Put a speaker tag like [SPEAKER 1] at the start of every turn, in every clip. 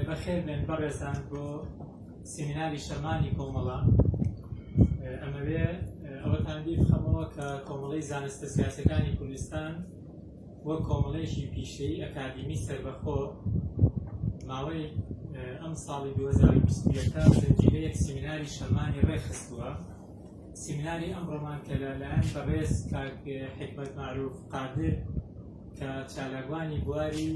[SPEAKER 1] بەخێر بێن بەڕێزان بۆ سیمیناری شەمانی کۆمەڵە ئەمەوێ ئەوەتان بیر بخەمەوە کە کۆمەڵی زانستە سیاسەکانی کوردستان بۆ کۆمەڵێکی پیشەی ئەکادیمی سربەخۆ ماوەی ئەم ساڵی 2020 زنجیرەیەک سیمیناری شەمانی ڕێخستووە سیمیناری ئەمڕۆمان کە لە لایەن بەڕێز کاک حکمەت معروف قادر کە چالاکوانی بواری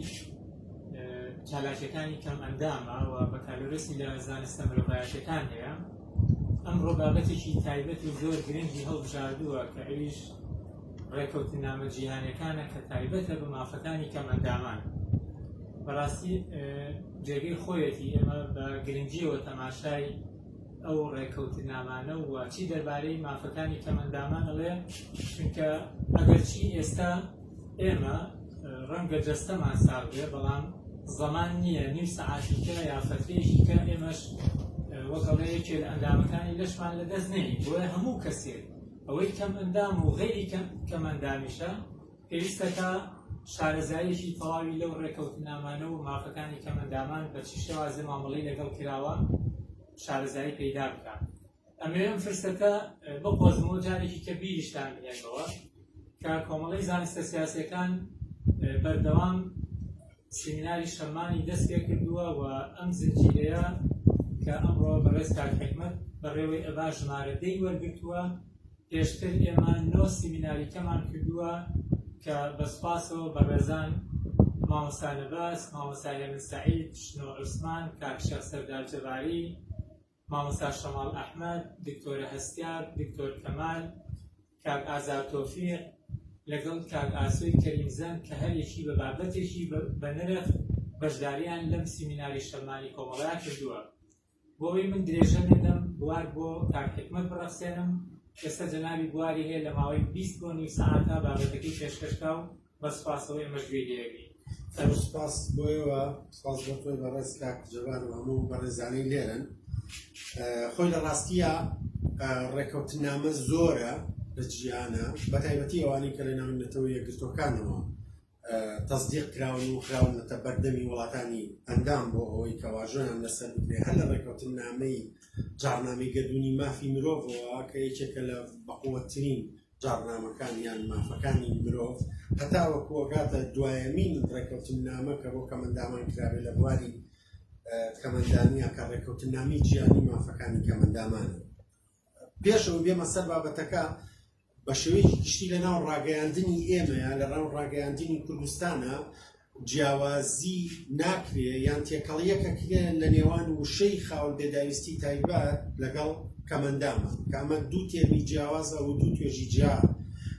[SPEAKER 1] چالاکیەکانی کەم ئەندامە و بەکالۆرسی لە زانستە مرۆڤایەتەکان هەیە ئەمڕۆ بابەتێکی تایبەت و زۆر گرنگی هەڵبژاردووە کە ئەویش ڕێکەوتنامە جیهانەکانە کە تایبەتە بە مافەکانی کەم ئەندامان بەڕاستی جێگەی خۆیەتی ئێمە بە گرنگیەوە تەماشای ئەو ڕێککەوتننامانە و چی دەربارەی مافەکانی کەمەندامان ئەڵێ چونکە ئەگەرچی ئێستا ئێمە ڕەنگە جەستەمان ساغ بێ بەڵام زەمان نییە نیو سەعاتیکە یا فەترێکیکە ئێمەش وەکەڵێ یەکێ لە ئەندامەکانی لەشمان لە دەست نێنی بۆیە هەموو کەسێک ئەوەی کەم ئەندام و غێری کەم ئەندامیشە پێویستەکە شارەزاییەکی تەواوی لەو ڕێکەوتنامانە و مافەکانی کەمەندامان بە چی شێوازە مامەڵەی لەگەڵ کراوە شارەزایی پەیدا بکات ئەمەوێم فرسەتە بقۆزمەوە جارێکی کە بیریشتان بنێنەوە کە کۆمەڵی زانستە سیاسەکان بەردەوام سمیناری شەمانی دەست پێ کردووە و ئەم زنجیرەیە کە ئەمڕۆ بەڕێز کار حکمت بەڕێوەی ئەبا ژمارە دەی وەرگتووە پێشتر ئێمە نۆ سیمیناری کەمان کردووە کە بە سوپاسەوە بەڕێزان مامۆستا نەباس، مامۆستا هێمن سەعید، شنۆ عوسمان، کاک شێخ سەردار جەباری، مامۆستا شەماڵ ئەحمەد، دکتۆرە هەستیار، دکتۆر کەمال، کاک ئازاد تۆفیق، لەگەڵ کاک ئاسۆی کەریمزەن کە هەر یەکی بە بابەتێکی بە نرخ بەشداریان لەم سیمیناری شەممانی کۆمەڵەیا کردووە. بۆوەی من درێژە نەدەم بوار بۆ کاک حیکمەت بڕەخسێنم، ئێستا جەنابی بواری هەیە لە ماوەی بیست بۆ نیو سەعاتە بابەتەکەی پێشکەش کا و بە سوپاسەوە ئێمەش گوێی لێ ئەگرین. زۆر سوپاس
[SPEAKER 2] بۆ ئێوە، سوپاس بۆ تۆی بەڕێز کاک جەبار و هەموو بەڕێزانەی لێرەن. خۆی لە ڕاستیە ڕێکەوتننامە زۆرە لە جیهانە، بە تایبەتی ئەوانەی کە لە ناو نەتەوە یەکگرتووەکانەوە، تەسدیق کراون و خراونەتە بەردەمی وڵاتانی ئەندام بۆ ئەوەی کە واژۆیان لەسەر بکرێ هەر لە ڕێکەوتنامەی جاڕنامەی گەردونی مافی مرۆڤەوە کە یەکێکە لە بەقوەترین جاڕنامەکان یان مافەکانی مرۆڤ هەتا وەکوەگاتە دوایەمین ڕێکەوتنامە کە بۆ کەمەندامان کراوێ لە بواری کەمەندانە کە ڕێکەوتنامی جیانی مافەکانی کەمەندامانە پێش ئەوەی بێمە سەر بابەتەکە، بە شێوەیەکی گشتی لە ناو ڕاگەیاندنی ئێمەیە، لە ناو ڕاگەیاندنی کوردستانا جیاوازی ناکرێ یان تێکەڵییەکە کرێ لە نێوان وشەی خاوەن پێداویستی تایبەت لەگەڵ کەمەندامە، کە ئەمە دوو تێرمی جیاوازە و دوو توێژی جیا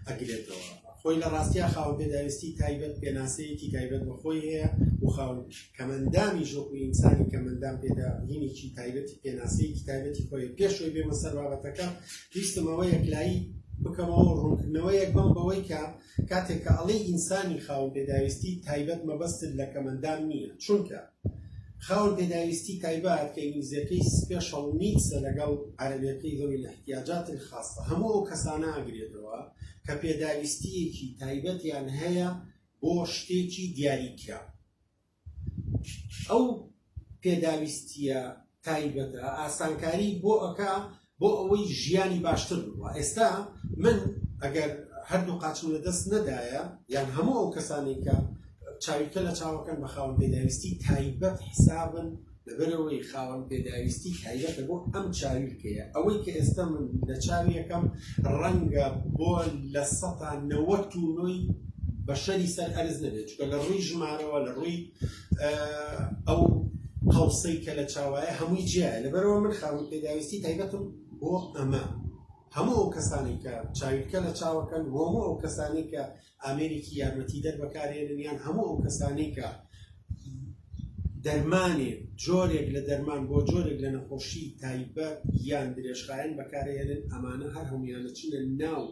[SPEAKER 2] ئەگرێتەوە. خۆی لە ڕاستیا خاوەن پێداویستی تایبەت پێناسەیەکی تایبەت بە خۆی هەیە و خاوەن. کەمئەندامیش وەکو ئینسانی کەمئەندام پێداگرینێکی تایبەتی پێناسەیەکی تایبەتی خۆیە پێش ئەوی بێمە سەر بابەتەکە ویستم ئەوە یەکلایی بکەمەوە ڕوونکردنەوەیەک بەم بەوەی کە کاتێک کە ئەڵێ ئینسانی خاوەن پێداویستی تایبەت مەبەستت لە کەمەندان نییە چونکە خاوەن پێداویستی تایبەت کە ئینگلیزیەکەی سپێشڵ نیدسە لەگەڵ عەرەبیەکەی ذوی الاحتیاجات الخاصە هەموو ئەو کەسانە ئەگرێتەوە کە پێداویستیەکی تایبەتیان هەیە بۆ شتێکی دیاریکراو ئەو پێداویستیە تایبەتە ئاسانکاری بۆ ئەکا بۆ ئەوەی ژیانی باشتر بووە ئێستا من ئەگەر هەردوو قاچم لە دەست نەدایە یان هەموو ئەو کەسانی کە چاویکە لە چاوەکەن بە خاوەن پێداویستی تایبەت حسابن لەبەرئەوەی خاوەن پێداویستی تایبەتە بۆ ئەم چاویلکەیە ئەوەی کە ئێستا من لە چاویەکەم ڕەنگە بۆ لە سەتا نەوەت تونۆی بەشەری سەر ئەرز نەبێت چکە لە ڕووی ژمارەوە لە ڕووی ئەو قەوسەی کە لە چاوایە هەمووی جیایە لەبەرەوە من خاوەن پێداویستی تایبەتم بۆ ئەمە هەموو ئەو کەسانی کە چاویلکە لە چاوەکەن بۆ هەموو ئەو کەسانی کە ئامێرێکی یارمەتیدەر بەکارێنن یان هەموو ئەو کەسانی کە دەرمانێ جۆرێک لە دەرمان بۆ جۆرێک لە نەخۆشی تایبەت یان درێژخایەن بەکارێنن ئەمانە هەر هەمویانە چنە ناو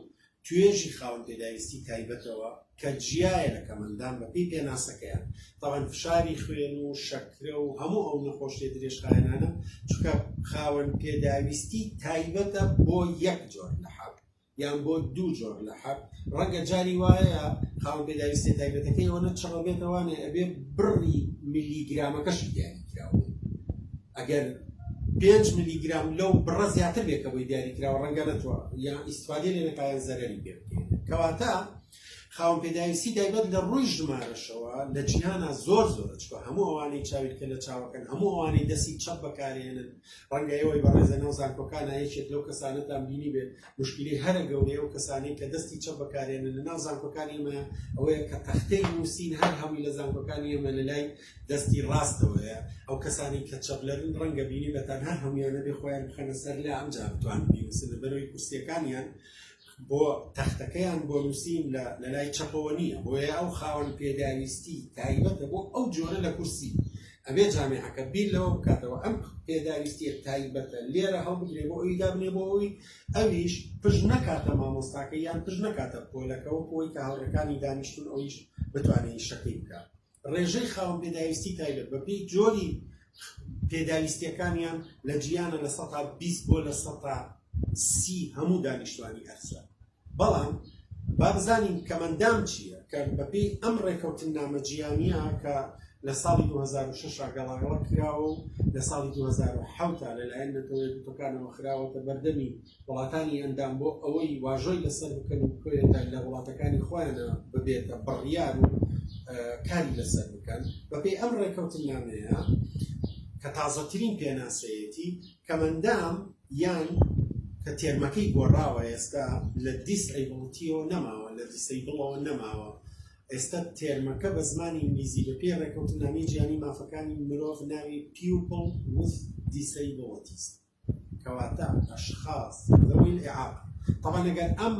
[SPEAKER 2] توێژی خاون پێداویستی تایبەتەوە کە جیایە لە کەمەندان بەپی پێناسەکەیان تاوان فشاری خوێن و شەکرە و هەموو ئەو نەخۆشتێ درێژخایەنانە چکە خاوەن پێداویستی تایبەتە بۆ یەک جۆر لە حاڵ یان بۆ دوو جۆر لە حەب ڕەنگە جاری وایە خاوەن پێداویستیە تایبەتەکەی ئەوەنە چڕە بێتەوانێ ئەبێ بڕی ملی گرامەکەشی دیاری کراوە ئەگەر پێنج ملی گرام لەو بڕە زیاتر بێ کە بۆی دیاری کراوە ڕەنگە نەتوە یان ئیسفادێ لێ نەکایان زەرەری پێ کەواتە خاوەن پێداویستی تایبەت لە ڕووی ژمارەشەوە لە جیهانا زۆر زۆر چکە هەموو ئەوانەی چاویت کە لە چاوەکەن هەموو ئەوانەی دەستی چەپ بەکارێنن ڕەنگە ئێوەی بەڕێز لە ناو زانکۆکانا یەکێک لەو کەسانەتان بینیبێت، مشکیلەی هەرە گەورەی ئەو کەسانەی کە دەستی چەپ بەکارێنن لە ناو زانکۆکانی ئێمەیە ئەوەیە کە تەختەی نووسین هەر هەمووی لە زانکۆکانی ئێمە لە لای دەستی ڕاستەوەیە، ئەو کەسانەی کە چەپلەرن ڕەنگە بینیبێتان هەر هەموویان نەبێت خۆیان بخەنە سەر لا ئەمجا بتوانن بینووسن لە بەرەوەی کورسییەکانیان، بۆ تەختەکەیان بۆ نووسین لە لەلای چەپەوە نییە بۆیە ئەو خاوەن پێداویستی تایبەتە بۆ ئەو جۆرە لە کورسی ئەبێ جامعەکە بیر لەوە بکاتەوە ئەم پێداویستیە تایبەتە لێرە هەڵبگرێ بۆ ئەوی دابنێ بۆ ئەوی ئەویش پش نەکاتە مامۆستاکە یان پش نەکاتە پۆلەکەەوە بۆی کە هەڵەکانی دانیشتون ئەویش بتوانێت شەکەی بکات ڕێژەی خاوەن پێداویستی تایبەت بە پێی جۆری پێداویستیەکانیان لە جیانە لە سەتا 20 بۆ لە سەتا سی هەموو دانیشتوانی ئەرزە بەڵام بابزانین کەمەندام چییە کە بەپی ئەم ڕێکەوتن نامەجییانە کە لە ساڵی 2006 گەڵاگەڵە کراوە و لە ساڵی 2010 لەلایەن نەتەوەیەکەکانەوە خراوەتە بەردەمی وڵاتانی ئەندام بۆ ئەوەی واژۆی لەسەر بکەن و بکەوێتە لە وڵاتەکانی خۆیانە ببێتە بڕیار و کاری لەسەر بکەن بەپێی ئەم ڕێکەوتنامەیە کە تازەترین پێناسەیەتی کەمەندام یان کە تێرمەکەی گۆڕاوە ئێستا لە دیس ئەیبڵتیەوە نەماوە لە دیسەی بڵەوە نەماوە ئێستا تێرمەکە بە زمانی ئینگلیزی بە پێ ڕێکەوتنامی جیانی مافەکانی مرۆڤ ناوی پیوپڵ وس دیسەی بڵتیست کەواتە ئەشخاس ذوی الاعاقە طبعا ئەگەر ئەم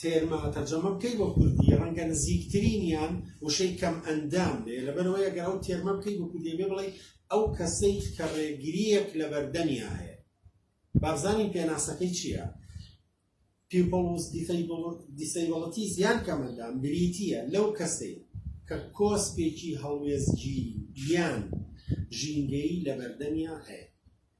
[SPEAKER 2] تێرمە تەرجەمە بکەی بۆ کوردی ڕەنگە نزیکترینیان وشەی کەم ئەندام بێ لەبەرەوەی ئەگەر ئەو تێرمە بکەی بۆ کوردی بێ بڵێ ئەو کەسەی کە ڕێگریەک لە بەردەمیا هەیە بابزانین پێناسەکەی چییە people with disabilities یان کەمەندام بریتیە لەو کەسەی کە کۆسپێکی هەڵوێزگیری یان ژینگەی لە بەردەمیا هەیە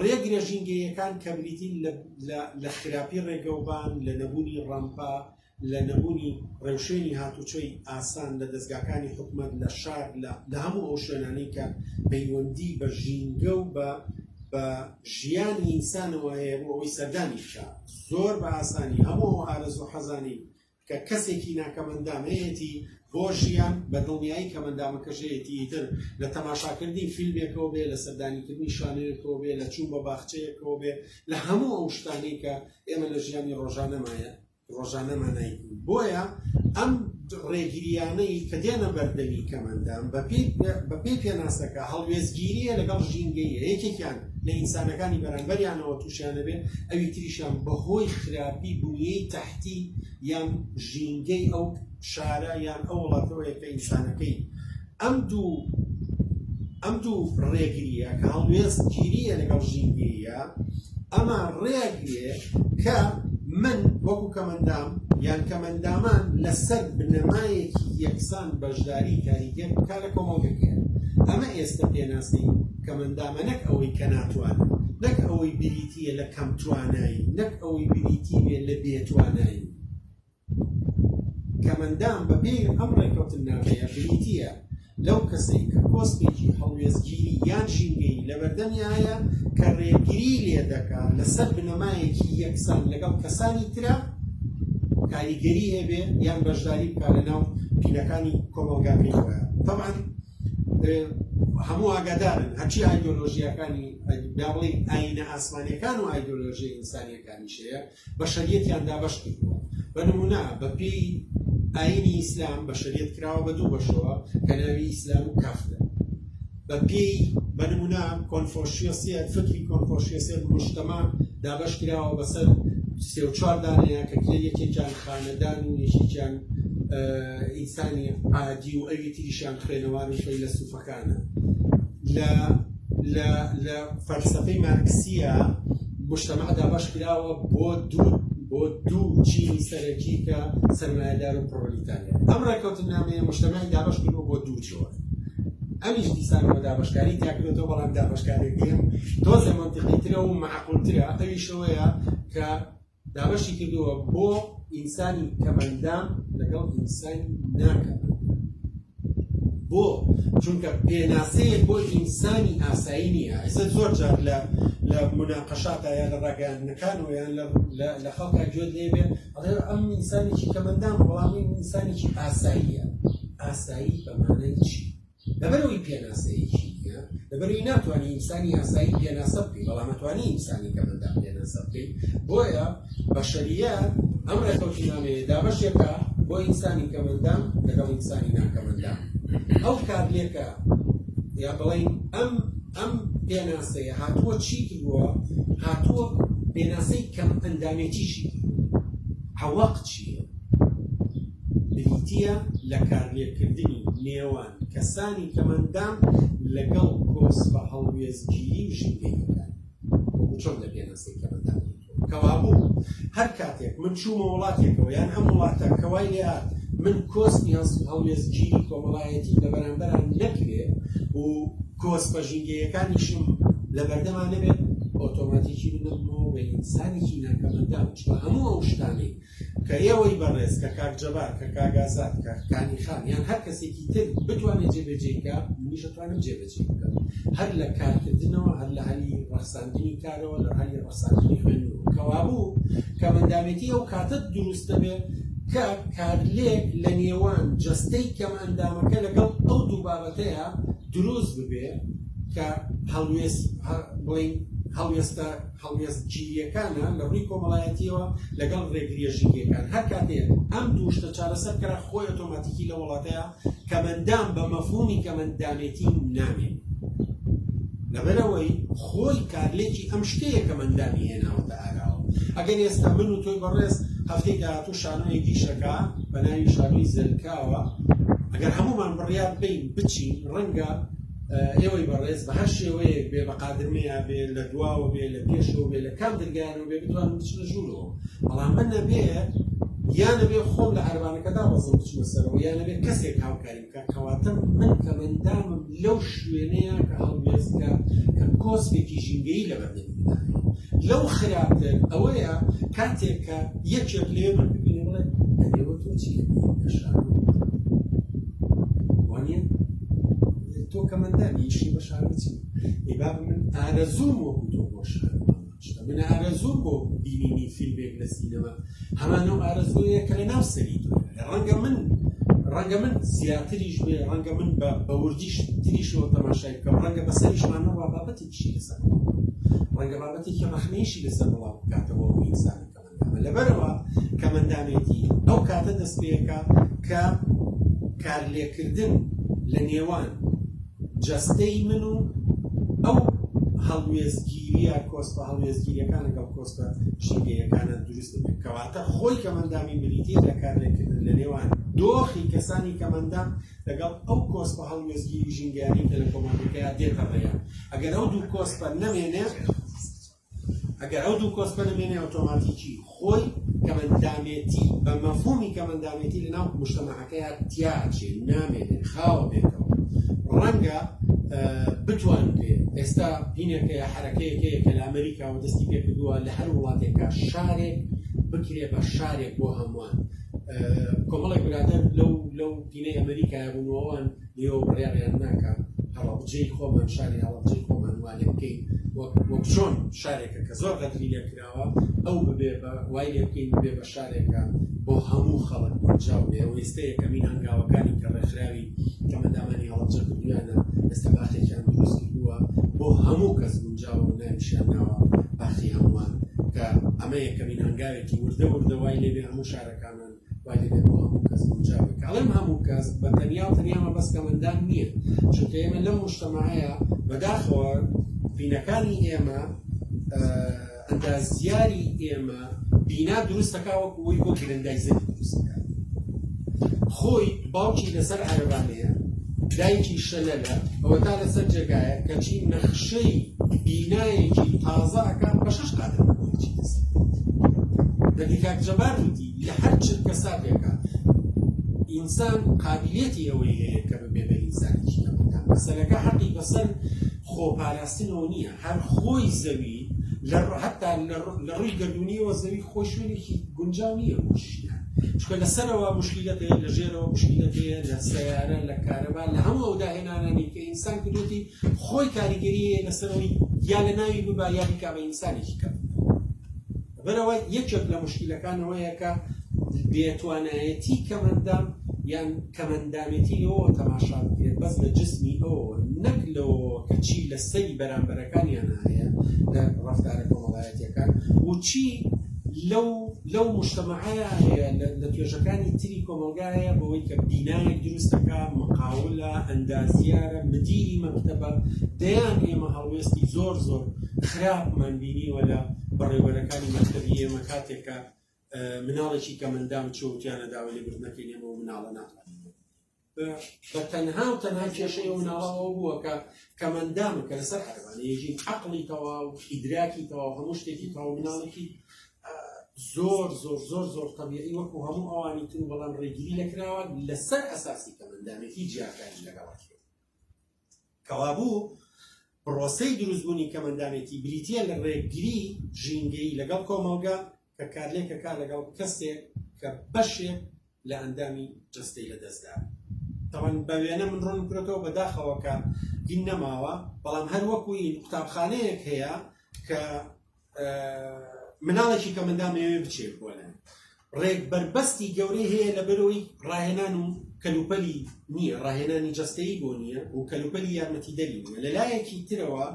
[SPEAKER 2] ڕێگرە ژینگەییەکان کە بریتین لە خراپی ڕێگەوبان، لە نەبوونی ڕامپا، لە نەبوونی ڕێوشوێنی هاتوچۆی ئاسان لە دەزگاکانی حکومەت لە شار لە هەموو ئەو شوێنانەی کە پەیوەندی بە ژینگە و بە بە ژیانی ئینسانەوە هەیە بۆ ئەوەی سەردانی بکا زۆر بە ئاسانی هەموو ئارەزوو حەزانی کە کەسێکی ناکەمەندام هەیەتی بۆ ژیان بە دڵنیایی کەمەندامەکەش هەیەتی ئیتر لە تەماشاکردنی فیلمێکەوە بێ لە سەردانیکردنی شانەیەکەوە بێ لە چوون بە باخچەیەکەوە بێ لە هەموو ئەو شتانی کە ئێمە لە ژیانی ڕۆژانەمایە ڕۆژانەمانای بۆیە ئەم ڕێگریانەی کە دێنە بەردەمی کەمەندام بەپی پێناسەکە هەڵوێزگیریە لەگەڵ ژینگەیە یەکێکیان لە ئینسانەکانی بەرامبەریانەوە تووشیانە بێت ئەوی تریشان بەهۆی خراپی بوونیەی تەح کتی یان ژینگەی ئەو شارە یان ئەو وڵاتەوەیە کە ئینسانەکەی ئەم دوو ئەم دوو ڕێگریە کە هەڵوێستگیریە لەگەڵ ژینگەیە ئەمە ڕێگرێ کە من وەکو کەمەندام یان کەمەندامان لەسەر بنەمایەکی یەکسان بەشداری کاریگەر بکە لە کۆمەڵگەکە ئەمە ئێستا پێناسەی کەمئەندامە نەک ئەوەی کە ناتوانن، نەک ئەوەی بریتی یە لە کەم توانایین، نەک ئەوەی بریتی بێ لە بێ توانایین. کەمئەندام بە پێی ئەم ڕێکەوتننامەیە بریتی یە لەو کەسەی کە کۆسپێکی هەڵوێستگیری یان ژینگەیی لە بەردەمیایە کە ڕێگری لێ دەکا لە سەر بنەمایەکی یەکسان لەگەڵ کەسانی ترا کاریگەری هەبێ یان بەشداری بکا لە ناو پینەکانی کۆمەڵگاکەی خۆیان. تەبعەن هەموو ئاگادارن هەرچی ئایدۆلۆژیاکانی دا بڵین ئاینە ئاسمانیەکان و ئایدۆلۆژی ئینسانیەکانی شەیە بە شەریەتیان دابەش کردووە بە نمونە بەپی ئاینی ئیسلام بە شەریەت کراوە بە دوو بەشەوە کە ناوی ئیسلام و کافرە بە پێی بە نمونە کۆنفۆشیسیەت فکری کۆنفۆشیسیەت مشتەما دابەش کراوە بەسەر سێ و چوار دانەیە کە کرێ یەکێکیان خانەدان و یەکێکیان ئینسانی عادی و ئەوی تریشیان خوێنەواری فەیلەسوفەکانە لە لە لە فەلسەفەی مارکسیە مجتمع دابەش کراوە بۆ دوو بۆ دوو چینی سەرەکی کە سەرمایەدار و پڕۆلیتاریا ئەم ڕێکەوتنامەیە مجتمعی دابەش کردوە بۆ دوو جۆر ئەمیش دیسانەوە دابشکاری تاکرێتەوە بەڵام دابشکارێکیان تۆزێ منتیقیترە و معقولترە ئەویشەوەیە کە دابەشی کردووە بۆ ئینسانی کەمەندام لەگەڵ ئینسانی ناکەمەندام بۆ چونکە پێناسەیە بۆ ئینسانی ئاسایی نییە ئێستا زۆر جار لە لە مناقەشاتا یا لە ڕاگەیاندنەکان و یان لە خەڵکا گوێت لێبێ ئەم ئینسانێکی کەمەندام بەڵامی ئینسانێکی ئاساییە ئاسایی بەمانەی چی لەبەرئەوەی پێناسەیەکی نییە، لەبەرئەوەی ناتوانی ئینسانی ئاسایی پێناسە بکەی، بەڵام ئەتوانی ئینسانی کەمەندان پێناسە بکەی، بۆیە بەشەرییەت ئەم ڕێکەوتنامەیە دابەشێکە بۆ ئینسانی کەمەندان لەگەڵ ئینسانی ناکەمەندان. ئەو کارلێکە یا بڵێین ئەم ئەم پێناسەیە هاتووە چی کردووە؟ هاتووە پێناسەی کەمئەندامێتیشی کردووە. عەوەق چییە؟ بریتییە لە کارلێککردنی نێوان کەسانی تەمەندام لەگەڵ کۆسپە هەڵوێستگیری و ژینگەییەکانی. وەکو چۆن لە پێناسەی کەمەندان گوتووە، کەوابوو هەر کاتێک من چوومە وڵاتێکەوە یان ئەم وڵاتە کە وای لێهات من کۆسپی هەڵوێستگیری کۆمەڵایەتیم لە بەرامبەرا نەکرێ و کۆسپە ژینگەیەکانیشم لە بەردەما نەبێت، ئۆتۆماتیکی بدەمەوە بە ئینسانێکی ناکەمەندان، چونکە هەموو ئەو شتانەی کە ئێوەی بەڕێز کە کاک جەبار کە کاک ئازاد کە کانی خان یان هەر کەسێکی تر بتوانێت جێبەجێی بکا منیش دەتوانم جێبەجێی بکەم هەر لە کارکردنەوە هەر لە هەلی ڕەخساندنی کارەوە لە هەلی ڕەخساندنی خوێندنەوە کەوا بوو کە مندامێتی ئەو کاتە دروست دەبێت کە کارلێک لە نێوان جەستەی کەم ئەندامەکە لەگەڵ ئەو دوو بابەتەیە دروست ببێ کە هەڵوێست بڵین هەڵوێستە هەڵوێستگیرییەکانە لە ڕووی کۆمەڵایەتییەوە لەگەڵ ڕێگرییە ژینگەیەکان. هەر کاتێک ئەم دوو شتە چارەسەر بکرا، خۆی ئۆتۆماتیکی لەو وڵاتەیا کەمئەندام بە مەفهوومی کەمئەندامێتی نامێنێ. لەبەرئەوەی خۆی کارلێکی ئەم شتەیە کەمئەندامی هێناوەتە ئاراوە. ئەگەر ئێستا من و تۆی بەڕێز هەفتەی داهاتوو شانۆیەک ئیش ئەکا بە ناوی شانۆی زەلکاوە، ئەگەر هەموومان بڕیار بدەین بچین، ڕەنگە، ئێوەی بەڕێز بە هەر شێوەیەک بێ بە قادرمەیا بێ لە دواوە بێ لە پێشەوە بێ لە کام درگایانەوە بێ بتوانم بچنە ژوورەوە بەڵام من نەبێ یانەبێ خۆم لە عربانەکەدا بەزم بچمە سەرەوە یانەبێ کەسێک هاوکاری بکە کەواتم من کە مندامم لەو شوێنەیە کە هەڵوێستکە کە کۆسپێکی ژینگەی لە بەردەم لەو خراپتر ئەوەیە کاتێک کە یەکێک لێ من ببینێ بڵێ ئەێوە تۆ چی گەشان وانە تۆ کەمەندان یشی بە شارۆ چی ئەی باب من ئارەزوم وەکو تۆ بۆ شار من ئارەزوم بۆ بینینی فیلمێک لە سینەما هەمان ئەو ئارەزوەیە کە لە ناو سەری تۆ ڕەنگە من ڕەنگە من زیاتریش بێ ڕەنگە من بە بەوردیش تریشەوە تەماشای بکەم ڕەنگە بە سەریشمانە ڕابابەتێکیشی لەسەر ڕەنگە بابەتێکی ڕەخنەیشی لەسەر بڵاو بکاتەوە ئینسانەکە لەبەرئەوە کەمەندامێتی ئەو کاتە دەستپێکا کە کارلێککردن لە نێوان جەستەی من و ئەو هەڵوێستگیرییە کۆسپە هەڵوێستگیرییەکان لەگەڵ کۆسپە ژینگەییەکانە دروست ببێت. کەواتە خۆی کەمەندامی بریتییە لە کارلێککردن لە نێوان دۆخی کەسانی کەمەندام لەگەڵ ئەو کۆسپە هەڵوێستگیری ژینگەیانەی کە لە کۆمەڵگەکەیا دێتە ڕێیان. ئەگەر ئەو دوو کۆسپە نەمێنێت، ئەگەر ئەو دوو کۆسپە نەمێنێ ئۆتۆماتیکی خۆی کەمەندامێتی بە مەفهومی کەمەندامێتی لەناو مشتەمەعەکەیە تیا ئەچێ نامێنێ خاوە بێتەوە ڕەنگە بتوانرێ ئێستا هینێکەیە حرەکەیەکەیە کە لە ئەمریکا و دەستی پێکردووە لە هەر وڵاتێکە شارێک بکرێ بە شارێک بۆ هەمووان کۆمەڵێک برادر لەو لەو پینەی ئەمریکایە بوونەوەوان نیوە بڕیاریان ناکا هەڵەبجەی خۆمان شاری هەڵەبجەی خۆمان وانێ بکەین وەک چۆن شارێکە کە زۆر غەدری لێ کراوە ئەو ببێ بە وای لێ بکەین ببێ بە شارێکە بۆ هەموو خەڵک گونجاو بێ ئەو ئێستا یەکەمین هەنگاوەکانی کە ڕێکخراوی کەمەندامانی هەڵەبجە کردویانە ئێستا باخێکیان دروست کردووە بۆ هەموو کەس گونجاو و ناویشیان ناوە باخی هەمووان کە ئەمە یەکەمین هەنگاوێکی وردە وردە وای لێ بێ هەموو شارەکانمان وای دەبێت بۆ هەموو کەس گونجاو بێت کە ئەڵێم هەموو کەس بە تەنیا و تەنیا مەبەست کەمەندان نییە چونکە ئێمە لەم مشتەماهەیە بەداخەوە بینەکانی ئێمە ئەندازیاری ئێمە بینا دروستەکە وەکو ئەوی بۆ گرندایزەر دروستەکە خۆی باوکی لەسەر عەربانەیە دایکی شەلەلە ئەوە تا لەسەر جێگایە کەچی نەخشەی بینایەکی تازەکە بە شش قادر دەبیکات جەبار وتی لە هەر چرکەساتێکا ئینسان قابیلیەتی ئەوەی هەیە کە ببێ بە ئینسانێکی کەمەکان. مەسەلەکە حەقی بەسەر خۆ پاراستنەوە نییە، هەر خۆی زەوی لە هەتا لە ڕووی گەردوونیەوە زەوی خۆی شوێنێکی گونجاو نییە بۆ ژیان. چونکە لە سەرەوە موشکیلەت هەیە، لە ژێرەوە موشکیلەت هەیە، لە سەیارە، لە کارەبا، لە هەموو ئەو داهێنانانەی کە ئینسان کردووەتی خۆی کاریگەری هەیە لەسەرەوەی، یا لەناوی ببا یا بیکا بە ئینسانێکی کەم. بەرەوە یەکێک لە مشکیلەکان ئەوەیە کە بێتوانایەتی کەمەندام یان کەمەندامێتی لەوەوە تەماشا بکرێت بەس لە جسمی ئەوەوە نەک لەوەوە کە چی لە سەری بەرامبەرەکانیان هەیە لە ڕەفتارە کۆمەڵایەتیەکان و چی لەو لەو مشتەمەعەیە هەیە لە توێژەکانی تری کۆمەلگایە بەوەی کە بینایەک دروستەکە مقاولە ئەندازیارە مدیری مەکتتەبە دەیان ئێمە هەڵوێستی زۆر زۆر خراپمان بینیوە لە بەڕێوەبەرەکانی مەکتەبی ئێمە کاتێک کە مناڵێکی کە مندام چۆتیانە داوای لێبردنەکەی لێمە و مناڵە ناتوانین بە تەنها و تەنها کێشەی و مناڵەوە بووە کە کەمەندامە کە لەسەر عەربانەیەژین عقلی تەوا و ئیدراکی تەوا هەموو شتێکی تاو مناڵێکی زۆر زۆر زۆر زۆر طبیعی وەکو هەموو ئەوانی تر بەڵام ڕێگیری لەکراوە لەسەر ئەساسی کەمەندامێکی جیاکاری لەگەڵات کەوابوو پڕۆسەی دروستبوونی کەمەندانێتی بریتە لە ڕێگری ژینگەی لەگەڵ کۆمەڵگە کە کارلێکە کار لەگەڵ کەسێک کە بەشێک لە ئەندامی جستەی لە دەستدا تەوان بە وێنە من ڕۆن کرێتەوە بەداخەوەکە دین نەماوە بەڵام هەر وەکوی قوتابخانەیەک هەیە کە مناڵێکی کە مندا مەوێ بچێت بۆ لای ڕێک بەربەستی گەورەی هەیە لە بەرەوەی ڕاهێنان و کەلوپەلی نییە ڕاهێنانی جستەی بۆ نییە و کەلوپەلی یارمەتی دەری نیە لە لایەکی ترەوە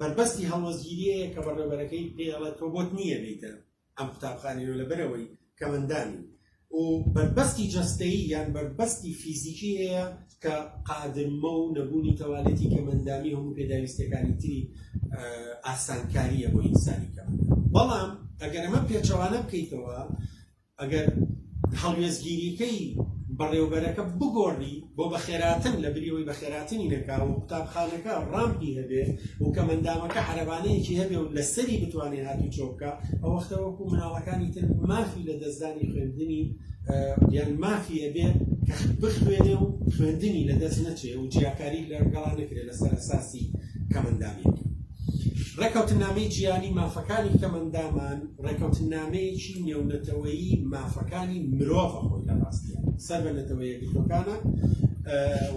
[SPEAKER 2] بەربەستی هەڵوەزگیریەیە کە بەڕێبەرەکەی پێڵە تۆ بۆت نییە بیتە ئەم قوتابخانەی نۆ لەبەرئەوەی کەمەندانی و بەربەستی جەستەیی یان بەربەستی فیزیکی هەیە کە قادرمە و نەبوونی تەوالێتی کەمەندامی هەموو پێداویستەکانی تری ئاسانکاریە بۆ ئینسانی کە بەڵام ئەگەر ئەمە پێچەوانە بکەیتەوە ئەگەر هەڵوێزگیریکەی بەڕێوبەرەکە بگۆڕی بۆ بەخێراتن لەبری ئەوەی بەخێراتنی نەکا و قوتابخانەکە ڕامپی هەبێ و کەمەندامەکە عەرەبانەیەکی هەبێ و لەسەری بتوانێ هاتوچۆ بکا ئەو وەختە وەکو مناڵەکانی تر مافی لە دەستدانی خوێندنی یان مافی هەبێ کە بخوێنێ و خوێندنی لەدەست نەچێ و جیاکاری لەگەڵا نەکرێ لەسەر ئەساسی کەمەندامیەتی ڕێکەوتننامەی جیهانی مافەکانی کەمەندامان ڕێکەوتننامەیەکی نێونەتەوەیی مافەکانی مرۆڤە خۆی لە ڕاستیان سەر بە نەتەوە یەکگرتوەکانە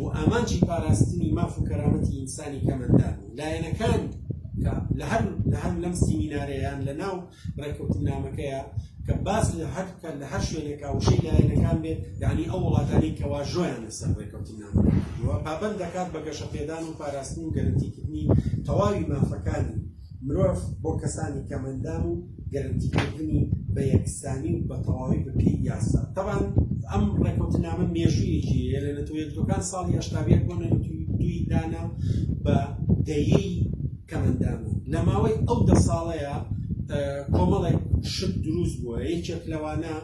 [SPEAKER 2] و ئامانجی پاراستنی ماف و کەرامەتی ئینسانی کەمەندان لایەنەکان لە هەر لە هەر لەم سیمینارەیان لە ناو ڕێککەوتننامەکەیە کە باس لە هەر بکات لە هەر شوێنێکا وشەی لایەنەکان بێت یعنی ئەو وڵاتانی کە واژۆیان لەسەر ڕێککەوتننامە کردووە پابەند دەکات بە گەشەپێدان و پاراستن و گەرنتیکردنی تەواوی مافەکانی مرۆڤ بۆ کەسانی کەمەندان و گەرنتیکردنی بە یەکسانی و بە تەواوی بەپی یاسا تەبان ئەم ڕێککەوتننامە مێژوویەکی لە نەتەوەیەکەکان ساڵی هەشتاویەک بۆ نەتوی دوی دانا بە دەیەی کەمئەندام و لە ماوەی ئەو دە ساڵەیا کۆمەڵێک شت دروست بووە یەکێک لەوانە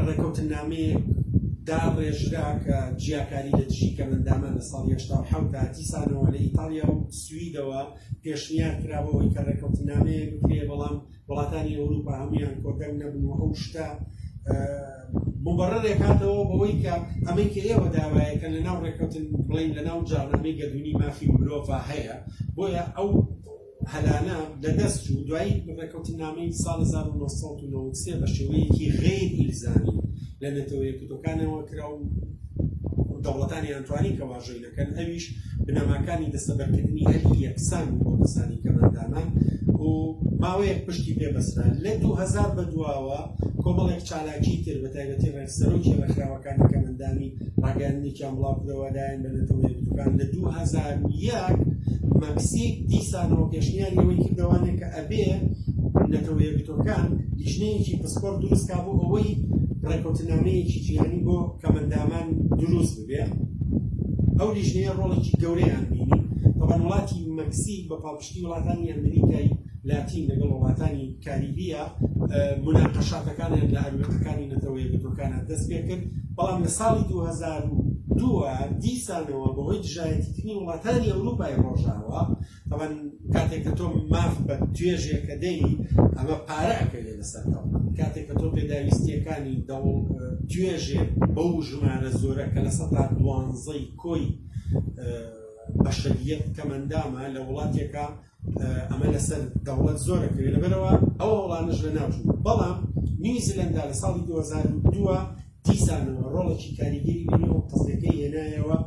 [SPEAKER 2] ڕێکەوتنامەیەک داڕێژرا کە جیاکاری لە دژی کەمئەندامان لە ساڵی هەشتا و حەوت تا دیسانەوە لە ئیتاڵیا و سویدەوە پێشنیار کرا بەوەی کە ڕێکەوتنامەیەک بکرێ بەڵام وڵاتانی ئەوروپا هەمویان کۆتەنگ نەبن و ئەو شتە مبڕێک هاتەوە بەوەی کە ئەمەی کە ئێوە داوایەکە لە ناو ڕێککەوتن بڵین لە ناو جاڕنامەی گەردونی مافی مرۆڤ هەیە بۆیە ئەو هەلانە لەدەست و دوایی ڕێککەوتن نامەی ساڵ 1993 بە شێوەیەکی غیر ئیلزامی لە نەتەوەیەکتەکانەوە کرا و دەوڵەتانی ئەنتوانی کە واژۆی دەکەن ئەویش بنەماکانی دەستەبەرکردنی ئەرکی یەکسان بوو بۆ کەسانی کەمەندانان و ماوەیەک پشتی پێ بەسرا لە دوو هەزار بە دواوە کۆمەڵێک چالاکی تر بە تایبەتی ڕێک سەرۆکی ڕێکخراوەکانی کەمەندانی ڕاگەیاندنێکیان بڵاو کرەوە لایەن بە نەتەوە یەکگرتووەکان لە دوو هەزار و یەک مەکسیک دیسانەوە پێشنیاری ئەوەی کردەوانێ کە ئەبێ نەتەوە یەکگرتووەکان لیژنەیەکی پسپۆڕ دروست کا بۆ ئەوەی ڕێککەوتنامەیەکی جیهانی بۆ کەمەندامان دروست بێ ئەو لیژنەیە ڕۆڵێکی گەورەیان بینی تەبان وڵاتی مەکسیک بە پاڵپشتی وڵاتانی ئەمریکای لاتین لەگەڵ وڵاتانی کاریبیە مناقەشاتەکانیان لە ئەروێقەکانی نەتەوە یەکگرتوەکانە دەست پێ کرد بەڵام لە ساڵی 2002 دیسانەوە بەهۆی دژایەتیکردنی وڵاتانی ئەوروپای ڕۆژاوە تەبەن کاتێک کە تۆ ماف بە توێژێکە دەی ئەمە پارە ئەکەوێت لەسەر دەڵ کاتێک کە تۆ پێداویستیەکانی دەوڵ توێژێ بەو ژمارە زۆرە کە لە سەدا دوانزەی کۆی بەشەریەت کەمەندامە لە وڵاتێکە ئەمە لەسەر دەوڵەت زۆرەکەوێت لەبەرەوە ئەو وڵانش لە ناوچوو بەڵام نیوزیلندا لە ساڵی 2002 دیسانەوە ڕۆڵێکی کاریگەری بینی و قەزیەکەی هێنایەوە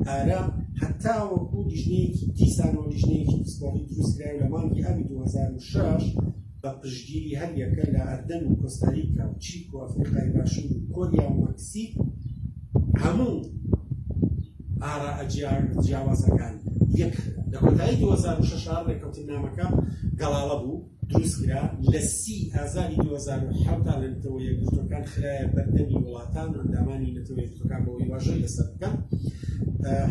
[SPEAKER 2] ئارا هەتاوەکو لیژنەیەکی دیسانەوە لیژنەیەکی پسپۆڕی دروستکرای لە مانگی ئابی 2006 بە پشتگیری هەریەکە لە ئەردەن و کۆستاریکا و چیک و ئەفریقای باشوور و کۆریا و مەکسیک هەموو ئارا جیاوازەکان یەک لە کۆتایی 2006 ڕێکەوتنامەکە گەڵاڵە بوو دروستکرا، لە سی ی ئازاری دوو هەزار و حەوت دا لە نەتەوە یەکگرتووەکان خرایە بەردەمی وڵاتان و ئەندامانی نەتەوە یەکگرتووەکان بەوەی واژۆی لەسەر بکەن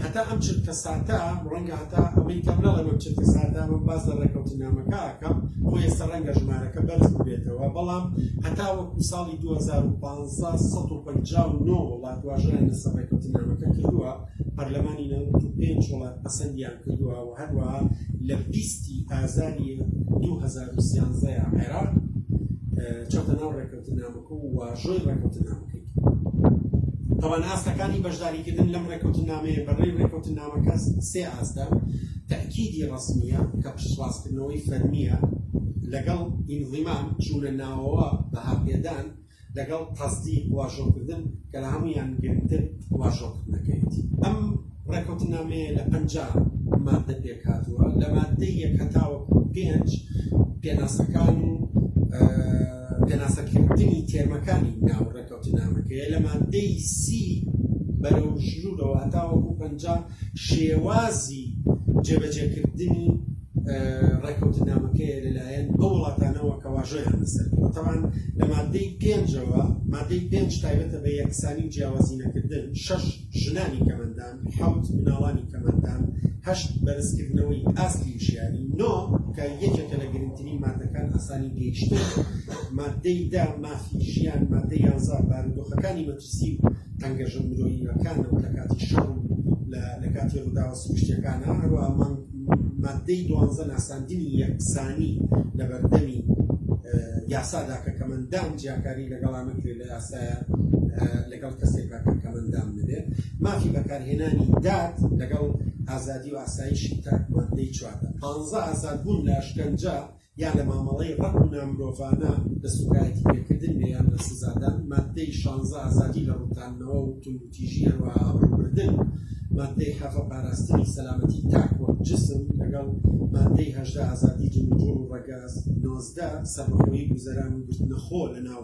[SPEAKER 2] هەتا ئەم چرکە ساتە ڕەنگە هەتا ئەمەی کەم نەڵێم ئەم چرکە ساتە من باس لە ڕێکەوتنامەکە ئەکەم بۆ ئێستا ڕەنگە ژمارەکە بەرز ببێتەوە بەڵام هەتا وەکو ساڵی دوو هەزار و پازدە سەد و پەنجا و نۆ وڵات واژۆیان لەسەر ڕێکەوتنامەکە کردووە پەرلەمانی نەوەد و پێنج وڵات پەسەندیان کردووە هەروەها لە بیست ی ئازاری دوو هەزار و سیانزە عێراق چۆتە ناو ڕێکەوتنامەکە و واژۆی ڕێکەوتنامەکەی تەوان ئاستەکانی بەشداریکردن لەم ڕێکەوتنامەیە بەڕێی ڕێکەوتنامەکە سێ ئاستە تەکیدی ڕسمیە کە پشتڕاستکردنەوەی فەرمیە لەگەڵ ئینزیمان چوونە ناوەوە بەهاپێدان لەگەڵ قەسدی واژۆکردن کە لە هەموویان گرنگتر واژۆکردنەکەیەتی. ئەم ڕێککەوتننامەیە لە پەنجا ماددە پێکهاتووە، لە ماددەی یەک هەتاوەکو پێنج پێناسەکان و پێناسەکردنی تێرمەکانی ناو ڕێککەوتننامەکەیە، لە ماددەی سی بەرەو ژرورەوە هەتاوەکو پەنجا شێوازی جێبەجێکردنی ڕێکەوتنامەکەیە لەلایەن ئەو وڵاتانەوە کە واژۆیان لەسەر کردووە تەبعەن لە مادەی پێنجەوە مادەی پێنج تایبەتە بە یەکسانی و جیاوازی نەکردن شەش ژنانی کەمەندان حەوت مناڵانی کەمەندان هەشت بەرزکردنەوەی ئاستی وشیاری نۆ کە یەکێکە لە گرنگترین مادەکان ئاسانی گەیشتن مادەی دا مافی ژیان مادەی یانزە بارودۆخەکانی پرسی و تەنگەژە مرۆییەکانەو لەکاتی شەڕ و لە لەکاتی ڕوداوە سروشتیەکانا هەروەها مانگ ماددەی دوانزە ناساندنی یەکسانی لەبەردەمی یاسادا کە کەمەندان جیاکاری لەگەڵا نەکرێت لە یاسایە لەگەڵ کەسێکا کە کەمەندان نەبێت مافی بەکارهێنانی داد لەگەڵ ئازادی و ئاسایشی تاک ماددەی چواردە پانزە ئازادبوون لە ئەشکەنجە یا لە مامەڵەی ڕەق و نامرۆڤانە لە سوکایەتی پێکردن بێ یان لە سزادان، ماددەی شانزە ئازادی لە ڕووتاندنەوە و توندوتیژی هەروەها ئابڕووبردن، ماددەی حەڤە پاراستنی سەلامەتی تاک وەک جسم، لەگەڵ ماددەی هەژدە ئازادی جموجوڵ و ڕەگەز، نۆزدە سەربەخۆیی گوزەران و گرتنە خۆ لە ناو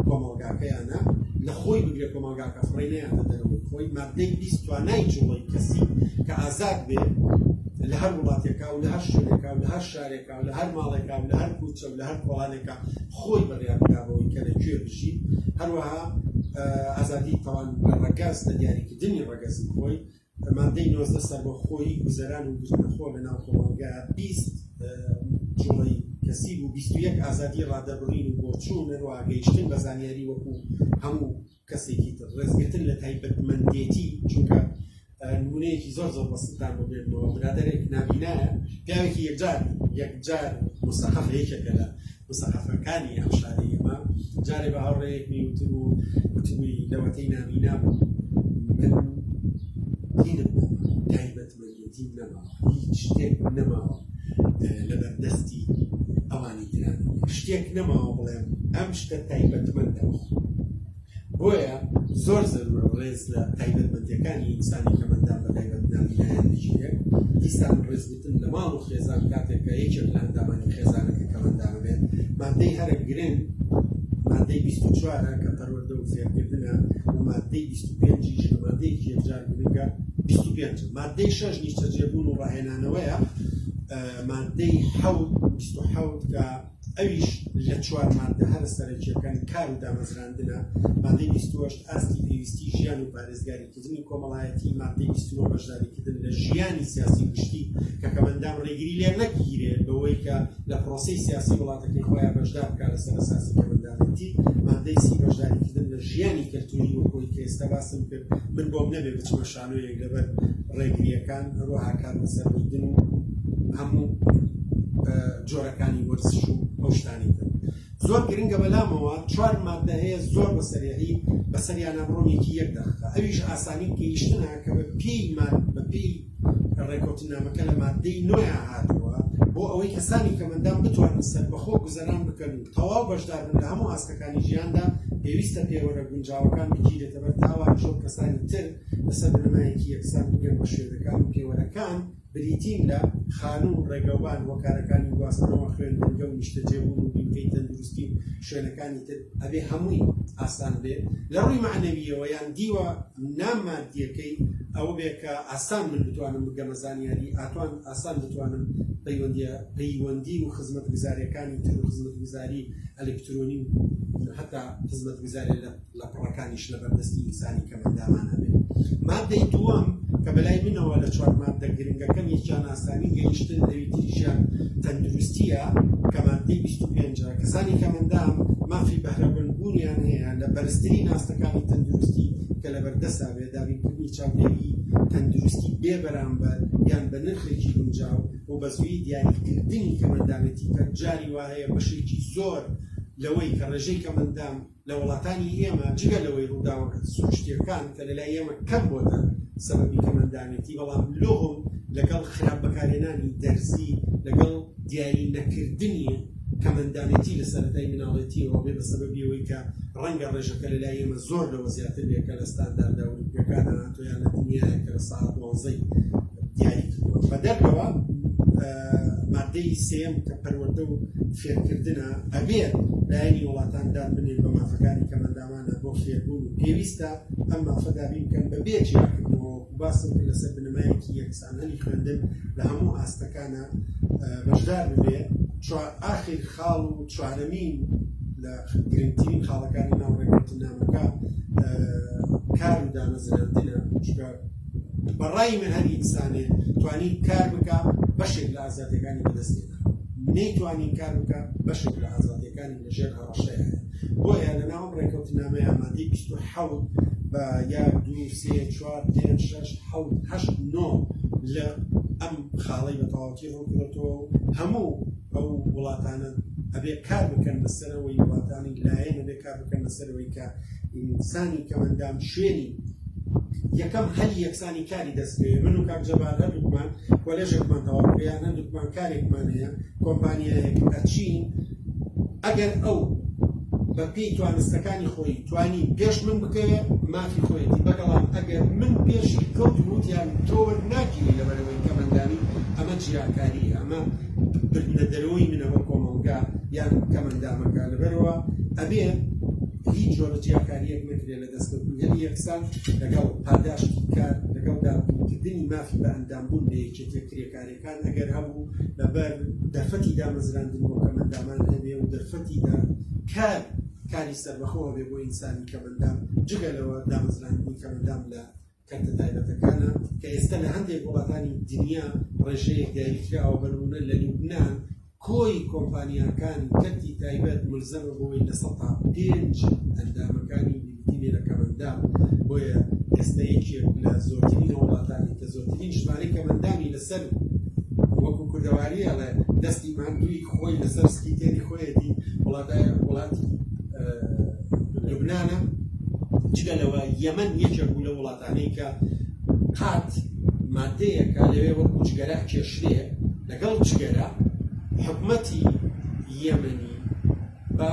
[SPEAKER 2] کۆمەڵگاکەیانە، لە خۆی بگرە کۆمەڵگاکە فڕێ نەیاتە دەرەوەی خۆی، ماددەی بیست توانای جوڵەی کەسی کە ئازاد بێ لە هەر وڵاتێکا و لە هەر شوێنێکا و لە هەر شارێکا، لە هەر ماڵێکا و لە هەر کوچە و لە هەر کۆڵانێکا خۆی بڕیار بدا بەوەی کە لە کوێ بژی هەروەها ئازادی تەوان لە ڕەگەز لە دیاریکردنی ڕەگەزی خۆی مادەی نۆزدە سەربەخۆی گوزەران و گوزەرخۆ لە ناو کۆمەڵگە بیست جوڵی کەسی بوو بیست و یەک ئازادی ڕادەبڕین و بۆچوون هەروەها گەیشتن بە زانیاری وەکو هەموو کەسێکی تر ڕێزگرتن لە تایبەتمەندێتی چونکە نمونەیەکی زۆر زۆر بەسیتان بۆ بێنەوە برادێک نابینایە پیاوێکی یەکجار یەکجار مستەقف یەکێکە لە مستەقفەکانی ئەم شاری ئێمە جارێ بە هاوڕێیەک میوتر و وتبووی لەوەتەی نابینا من دینم تایبەت یەکێتی نەماوە هیچ شتێک نەماوە لەبەردەستی ئەوانی تران شتێک نەماوە بڵێم ئەم شتە تایبەتمەندە بۆیە زۆر زەرورە ڕێز لە تایبەتمەندەکانی ئینسانی کەمەندا بە تایبەت ناویلایەن بژێ دیسان ڕێزگوتن لە ماڵ و خێزان کاتێکە یەکێک لە ئەندامانی خێزانەکە کەمەندا بێت مادەی هەرە گرنگ مادەی 24 کە پەرۆ دەوزیادکردنە و ماددەی بیست و پێنجیش بە مادەیەکی یەکجار گرنگە بیست و پێنج مادەی شەش نیشتەجێبوون و ڕاهێنانەوەیە مادەی حەوت بیست و حەوت کە ئەویش لە چوار مادە هەرە سەرەکیەکانی کار و دامەزراندنە مادەی بیست و هەشت ئاستی پێویستی ژیان و پارێزگاری نزمی کۆمەڵایەتی، ماددەی بیست و نۆ، بەشداریکردن لە ژیانی سیاسی گشتی کەکەمەندان ڕێگری لێ نەکیرێت بەوەی کە لە پرۆسەی سیاسی وڵاتەکەی خۆیان بەشدار بکات لەسەر ئەساسی کەمەندانێتی، ماددەی سی، بەشداریکردن لە ژیانی کەلتوری وەک ئەوەی کە ئێستا باسم کرد من بۆم نەبێ بچمە شانۆیەک لەبەر ڕێگریەکان، هەروەها کات بەسەر بردن و هەموو جۆرەکانی وەرزش و ئەو شتانەی تر. زۆر گرنگە بەلامەوە چوار ماددە هەیە زۆر بە سەریعی بەسەریانا بڕۆن یەکی یەک دەقیقە ئەویش ئاسانی گەیشتنە کە بە پێی ماد بە پێی ڕێکوتنامەکە لە ماددەی نۆیان هاتووە بۆ ئەوەی کەسانی کەمەندان بتوانن سەربەخۆ گوزەران بکەن و تەواو بەشداربن لە هەموو ئاستەکانی ژیاندا پێویستە پێوەرە گونجاوەکان بگیرێتە بەر تاوانیش وەک کەسانی تر لەسەر بنەمایەکی یەکسان بگەن بە شوێنەکان و پێوەرەکان بریتین لە، خانوو و ڕێگەوبان و کارەکانی گواستنەوە، خوێندنگە و نیشتەجێبوون و بنکەی تەندروستی و شوێنەکانی تر، ئەبێ هەمووی ئاسان بێ لە ڕووی مەعنەوییەوە، یان دیوە نا ماددییەکەی ئەوە بێ کە ئاسان من بتوانم بگەمە زانیاری، ئاتوان ئاسان بتوانم پەیوەندییە پەیوەندی و خزمەتگوزارییەکانی تر و خزمەتگوزاری ئەلکترۆنی و هەتا خزمەتگوزارییە لە. لە پڕەکانیش لە بەردەستی ئینسانی کەمئەندامان ئەبێت. ماددەی دووەم کە بەلای منەوە لە چوار ماددە گرنگەکەم یەکیان ئاسانی گەیشتن لەوی تریشیان تەندروستییە کە ماددەی بیست و پێنج ە کەسانی کەمئەندام مافی بەهرەمەند بوونیان هەیە لە بەرزترین ئاستەکانی تەندروستی کە لەبەردەستا بێت دابینکردنی چاودێری تەندروستی بێ بەرامبەر یان بە نرخێکی گونجاو و بەزوویی دیاریکردنی کەمئەندامێتی پەرجاری واهەیە بەشێکی زۆر لەوەی کە ڕێژەی کەمئەندام لە وڵاتانی ئێمە جگە لەوەی ڕووداوە سروشتیەکان کە لەلای ئێمە کەم بۆتە سەبەبی کەمەندامێتی بەڵام لۆم لەگەڵ خراپ بەکارێنانی دەرزی لەگەڵ دیاری نەکردنی کەمەندامێتی لە سەرەتای مناڵێتی ڕۆبێ بە سەبەبی ئەوەی کە ڕەنگە ڕێژەکە لەلای ئێمە زۆر لەوە زیاتر بێ کە لە ستانداردە ئەوروپیەکانە تۆیانە دنیایە کە لە ساعت دوانزەی دیاری کردووە بە دەرەوە ماددەی سێیەم کە پەروەردە و فێرکردنە، ئەبێت لایەنی وڵاتان دان بنێن بە مافەکانی کەمەنداوانە بۆ فێربوون و پێویستە ئەم مافە دابین بکەن بە بێ جیاکردنەوە وەکو باسم کرد لەسەر بنەمایەکی یەکسانانی خوێندن لە هەموو ئاستەکانا بەشدار ببێ چوار ئاخیر خاڵ و چوارەمین لە گرنگترین خاڵەکانی ناو ڕێککەوتننامەکە کار و دامەزراندنە چونکە بەڕای من هەر ئینسانێ توانی کار بکە بەشێک لە ئازادیەکانی بەدەستێدا نەیتوانین کار بکە بەشێک لە ئازادیەکانی لەژێر هەڕەشەیە بۆیە لە ناوم ڕێکەوتنامە یامادەی بیست و حەوت بە یا دوو سێ چوار پێنج شەش حەوت هەشت نۆ لە ئەم خاڵەی بە تەواوەتی ڕووکرێتەوە و هەموو ئەو وڵاتانە ئەبێ کار بکەن بەسەرەوەی وڵاتانی لایەن ئەبێ کار بکەن بەسەر ئەوەی کە ئینسانی کەمەندان شوێنی یەکەم هەلی یەکسانی کاری دەستێ من و کاکجەبار هەردووکمان کۆلێژێکمان تەواو کریان هەردووکمان کارێکمان هەیە کۆمپانیایەک ئەچین ئەگەر ئەو بە پێی توانستەکانی خۆی توانی پێش من بکەوێ مافی خۆیەتی بەگەڵام ئەگەر من پێشی کەوت وتیان تۆوە ناگیری لەبەرەوەی کەمەندانی ئەمە جیاکاری ئەمە بردنە دەرەوەی منە وەک کۆمەڵگا یان کەم ئەندامەکە لەبەرەوە ئەبێ هیچ جۆرە جیاکاریەک نەکرێت لە دەستکەوتنی هەلی یەکسان لەگەڵ پاداشت کار لەگەڵ دابکردنی مافی بە ئەندامبوون لە یەکێتە کرێکارەکان ئەگەر هەبوو لەبەر دەرفەتی دامەزراندن بۆ کەمەندامان هەبێ و دەرفەتی دا کار کاری سەربەخۆوە بێ بۆ ئینسانی کەمەندام جگە لەوە دامەزراندنی کەمەندام لە کەرتە تایبەتەکانە کە ئێستا لە هەندێک وڵاتانی دنیا ڕێژەیەک دیاری کراوە بە نموونە لە لوبنان کۆی کۆمپانیاکانی کەرتی تایبەت ملزەمە بۆی لە سەد تا پێنج ئەندامەکانی یەکێتی لێ لە کەمەندان بۆیە ئێستا یەکێک لە زۆرترین وڵاتانی کە زۆرترین ژمارەی کەمەندانی لەسەر وەکو کوردەواری ئەڵێ دەستی ماندووی خۆی لەسەر سپیتێری خۆیەتی وڵاتای وڵاتی لوبنانە جگە لەوە یەمەن یەکێک بوو لە وڵاتانەی کە قات مادەیەکە لەوێ وەکو جگەرە کێشرێ لەگەڵ جگەرە حکومەتی یەمەنی بە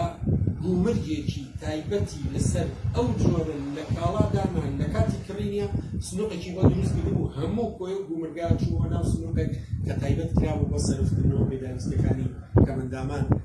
[SPEAKER 2] گومرگێکی تایبەتی لەسەر ئەو جۆرە لە کاڵادامان لە کاتی کڕینە سنوقێکی بۆ دروست کرد و هەموو کۆی و گومرگا چووە ناو سنوقێک کە تایبەت کرا و بۆ سەرفتکردنەوە پێداویستەکانی کەمەندامان